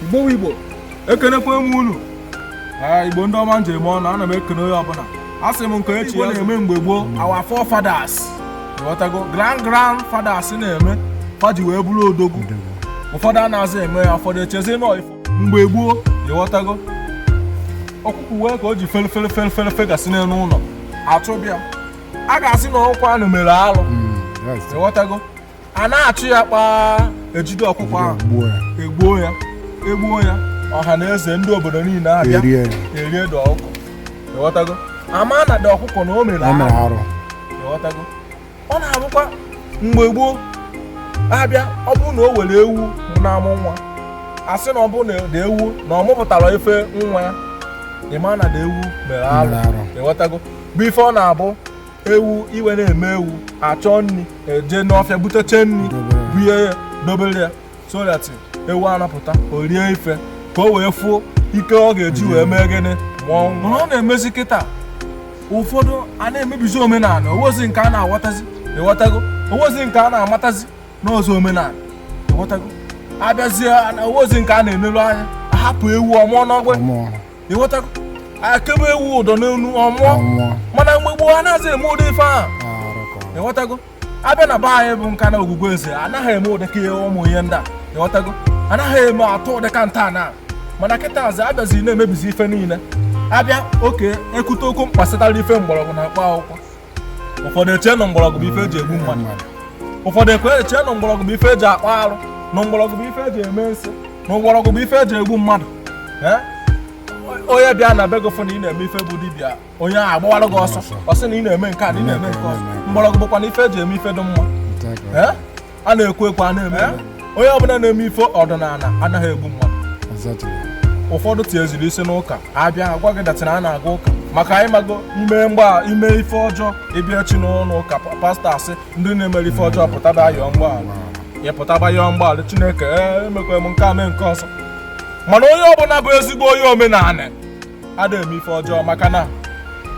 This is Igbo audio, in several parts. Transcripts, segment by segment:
igbo igbo ekenekwa m unu ee igbo ndị ọma m ji eme ọnụ ana m ekene onye ọbụla a sị m ka e chee ihe a na-eme mgbe gboo our forefathers ịghọtago grand grand fathers na-eme fa ji wee bụrụ odogwu ụfọdụ anazị eme ya ụfọdụ echezi na ọ ifo mgbe gboo ịghọtago ọkụkụ wee ka o ji fere fere fere fere fegasị n'elu ụlọ achụba ya a ga-asị na ọkụkọ anụ mere alụ ịghọtago a na-achụ ya kpaa ejide ọkụkọ ahụ egbuo ya egbuo ya ọha na eze ndị obodo niile abịa erie the ọkụkọ ịghọtago ama na the ọkụkọ na o mere arụ ịghọtago ọ na-abụkwa mgbe gboo abịa ọ bụrụ na o nwere ewu na-amụ nwa asị na ọ bụrụ na the ewu na ọ mụpụtara ife nwa ya ịma na the ewu mere arụ ịghọtago bụ ife ọ na-abụ ewu ime na-eme ewu achọ nri eje n'ọfịa buteche nri bunye ya dobere ya so that ewu a na-apụta o rie ife ka o wee fụ ike ọ ga-eji wee mee gịnị mụọ nwa. mana ọ na-emezi kịta ụfọdụ a na-emebizi omenala o nwezi nke a na-aghọtazi ịghọtago o nwezi nke a na-amatazi n'ụzọ omenala ịghọtago abịazie o nwezi nke a na-enelu anya ahapụ ewu ọ mụọ n'ọgbụ ịghọtago ekebe ewu ụdọ n'olu ọ mụọ mana mgbe gboo anazị eme ụdị ife ahụ ịghọtago abịa na be anyị bụ nka na ogwugwu eze anaghị eme ụdịka ihe ụmụ ihe ndị a ịghọtago anaghị eme atụ ụdịka nta na mana kịtazị abịazi na-emebizi ife niile abịa okay ekwute okwu gbasatara ife mgbọrọgwụ na mkpa akwụkwọ ụfọdụ eche na mgbọrọgwụ bụ ife eji egbu mmadụ ụfọdụ eche na mgbọrọgwụ bụ ife eji akpa arụ na mgbọrọgwụ bụ ife eji eme nsi na mgbọrọgwụ bụ ife eji egbu mmadụ onye bịa na be gị fụ na ị na-eme ife bụ dibịa onye ahụ agbawara gị ọsọ ọ sị na ị na-eme nke a na ị na-eme nke ọzọ mgbọrọgwụ bụkwanụ ife eji eme ife dị mma a na-ekwu ekwu a na-eme onye ọbụla na-eme ife ọdịnala anaghị egbu mmadụ ụfọdụ tinyeziri isi n'ụka abịa agwa gị that na a na-aga ụka maka anyị mago ime mgba ime ife ọjọọ ị bịa echi n'ụlọ ụka pastọ asị ndị niile mere ife ọjọọ pụtaba yọọ mgbaghara ya pụtaba yọọ mgbaghara chineke emekwa m nke a mee nke ọzọ mana onye ọbụla bụ ezigbo onye omenala ada eme ife ọjọọ maka na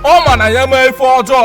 ọ ma na ya mee ife ọjọọ